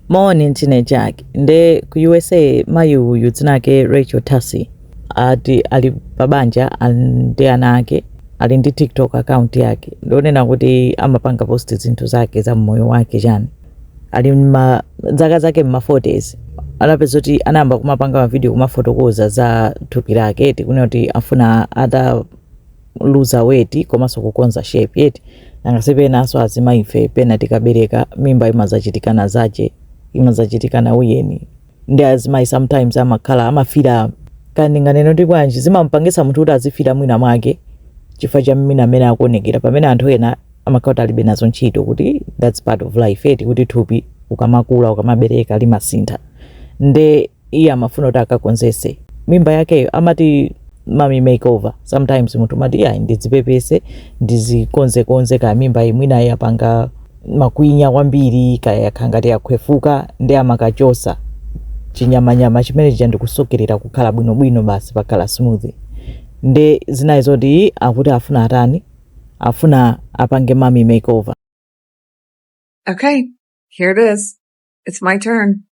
Moni ndine Jack nde ku usa mayi uyu dzina ake Rachel Tassi ati ali pabanja ali ndi ana ake ali ndi tiktok account yake ndionena kuti amapanga post zinthu zake za mmoyo wake chani ali zaka zake mma 40s anapeza kuti anayamba kumapanga mavidiyo kumafotokoza za thupi lake ndikunena kuti afuna ata luza weight komanso kukonza shape eti nanga si penanso azimayife pena tikabereka mimba imazachitikana zache imazachitikana ujeni ndi azimayi sometimes amakhala amafila ka ndinganeno nditi bwanji zimampangitsa munthu kuti azifila mwina mwake chifukwa cha mmene amene akuonekera pamene anthu ena amakhala kuti alibe nazo ntchito kuti that's part of life eti kuti thupi ukamakula ukamabereka limasintha nde iye amafuna kuti akakonzetse mimba yakeyo amati mommy makeover sometimes munthu umati iyayi ndidzipepetse ndizikonzekonze kaya mimba iyi mwina yapanga makwinya kwambiri kaya yakhala ngati yakhwefuka ndi amakachotsa chinyamanyama chimene chija ndikusokerera kukhala bwinobwino basi pakhale smooth nde zinali zoti akuti afuna atani afuna apange mommy makeover Okay, here it is. It's my turn.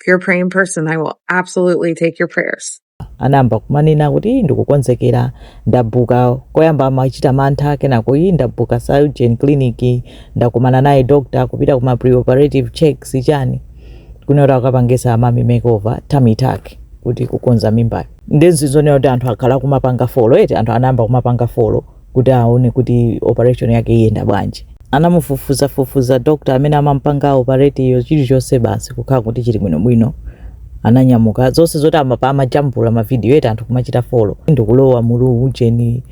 If you're a praying person, I will absolutely take your prayers. anayamba kumanena kuti ndikukonzekera ndabuka koyamba amachita mantha kenako ii ndabuka surgeon clinic ndakumana naye doctor kupita kuma preoperative checks chani kunena kuti akapangitsa mommy makeover tummy tuck kuti kukonza mimbayo nde ndi zonena kuti anthu akhala kumapanga follow eti anthu anayamba kumapanga follow kuti aone kuti operation yake iyenda bwanji. Anamufufuza fufuza doctor amene amamupanga operate-yo chilichonse basi kukhala kuti chili bwino bwino. Ananyamuka zonse zoti amapa amajambula ma video eti anthu kumachita follow ndikulowa mu ujeni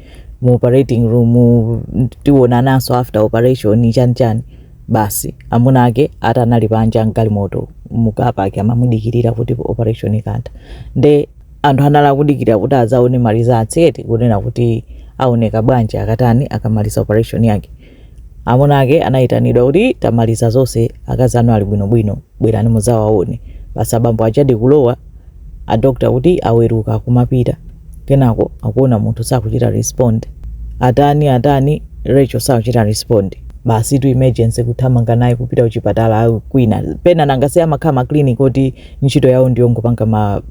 mu operating room tionananso after operation chani chani basi amuna ake ati anali panja mgalimoto mu car park amamudikirira kuti operation ikatha nde anthu anali akudikira kuti adzaone ma results eti kunena kuti aoneka bwanji akatani akamaliza operation yake amuna ake anayitanidwa kuti tamaliza zonse akazi anu ali bwinobwino bwerani mudzawaone basi abambo aja ndi kulowa adokta kuti aweruka akumapita kenako akuona munthu sakuchita respond atani atani rachel sakuchita respond basi to emergency kuthamanga naye kupita kuchipatala kwina pena nanga si amakhala maclinic oti ntchito yawo ndiyongopanga ma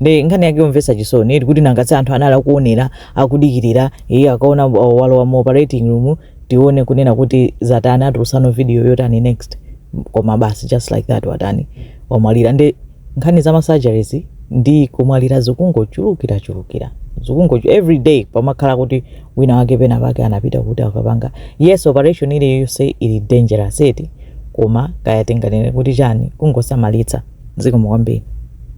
ndi nkhani yake yomvetsa chisoni eti kuti nangatse anthu anali akuonera akudikirira iye akaona wa- walowa mu operating room tione kunena kuti zatani atiuzanso video yotani next koma basi just like that watani wamwalira ndi nkhani za masurgeries ndi kumwalira zikungochulukira chulukira zikungo every day pamakhala kuti wina wake pena pake anapita kuti akapanga yes operation ili yonse ili dangerous eti koma kaya tinganene kuti chani kungosamalitsa zikomo kwambiri